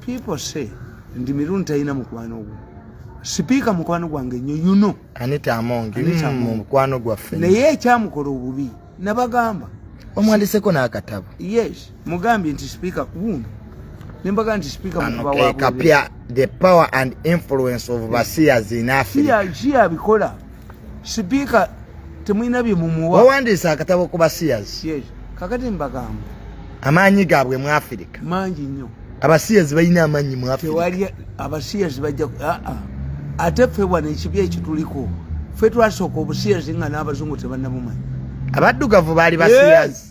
people say ndi mirundi talina mukwano gwo sipiika mukwano gwange nnyo yuno anita amongi mm, mukwano gwaffe naye ekyamukola obubi nabagamba omwandiseko n'akatabo yes mugambye nti sipiika kuwuno nembaga nti sipiika mukapya the power and influence of basiyazi nafe siyabikola sipiika temulina bye mumuwa wawandiise akatabo ku basiyazi yes. kakati mbagamba amaanyi gaabwe mu afirika mangi nnyo abasiyazi balina amaanyi mu afirikatewali abasiyazi bajja aa ah, ah. ate ffe wana ekibi ekituliko ffe twasooka obusiyazi nga n'abazungu tebannabumanyi abaddugavu baali basiyazi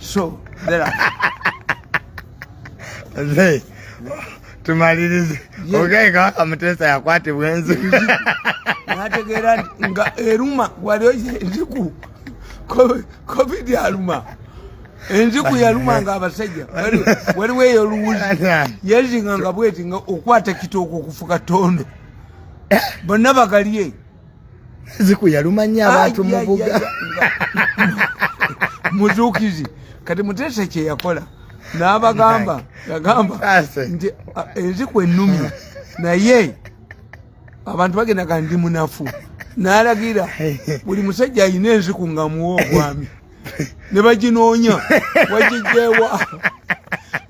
so there are Mzee, tumalirize ogaye kabaka muteesa yakwatibwa enziku nategeera nti nga eruma waliyo enziku covid aluma enziku yaluma nga abasajja waliwo eyo luwuzi yezinga nga bweti nga okwata kitooka okufuka tondo bonna bagalye ziku yalumanya abantu mubuga muzukizi kati mutesa kyeyakola nabagamba yagamba nti eziku enumi naye abantu bagenda ga ndi munafu nalagira buli musajja alina enziku nga muwa obwami ne baginoonya wagijjeewa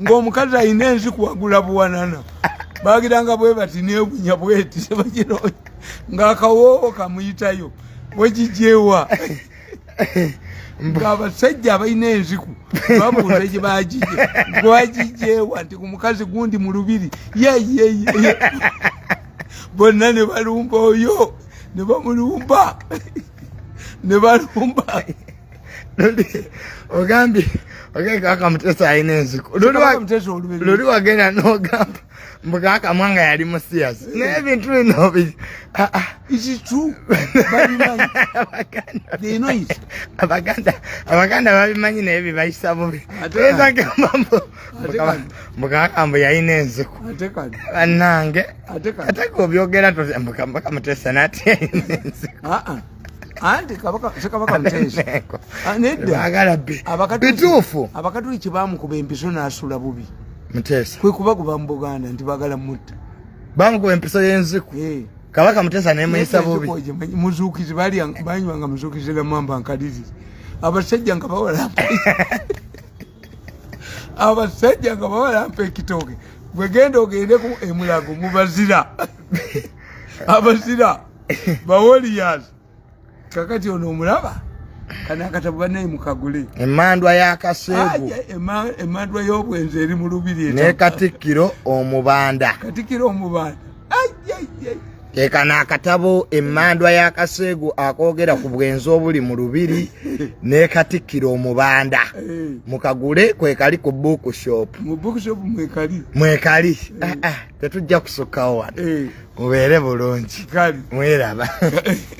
ng'omukazi alina ensi kuwagula buwanana bagira nga bwe bati nebunya bweti ne baginoonya ng'akawoowo kamuyitayo wagijjeewa ng'abasajja abalina enziku babuuza gye bagije gwagijjeewa nti ku mukazi gundi mu lubiri yeyeyeye bonna ne balumba oyo ne bamulumba ne balumba ogambye ogee kaka mutesa alina enziku luli wagenda nogamba mbu kaka mwanga yali musiyasi naye ebintu bino abaganda babimanyi naye bibayisa bubi mukakamba yalina enziku banange ate gobyogera mukambaka mutesa nati yalina enziku ah, ah. anti kabaka mutesabagala ah, be bituufu abakatuliki bamukuba empiso nasula bubi mutesa kwekubakuba mu buganda nti bagala mutta bamukuba empiso yenziku eh. kabaka mutesa nemuyisa bubi muzukizi banywanga muzukizi namamba nkalirire abasajja nga bawala abasajja nga baba lampa ekitooke gwegenda ogende ku emulago mubazira abazira bawoliyas kakati ono omulaba kanakatabu banaye mukagule emandwa yakaseegu emandwa y'obwenzi eri mu lubiri ne katikkiro omubanda katikkiro omubanda kekano akatabo emmandwa ya kaseegu akoogera ku bwenzi obuli mu lubiri ne katikkira omubanda eh. mukagule kwekali ku bookshop mwekali eh. ah, ah, tetujja kusukkawo wano eh. mubeere bulungi mweraba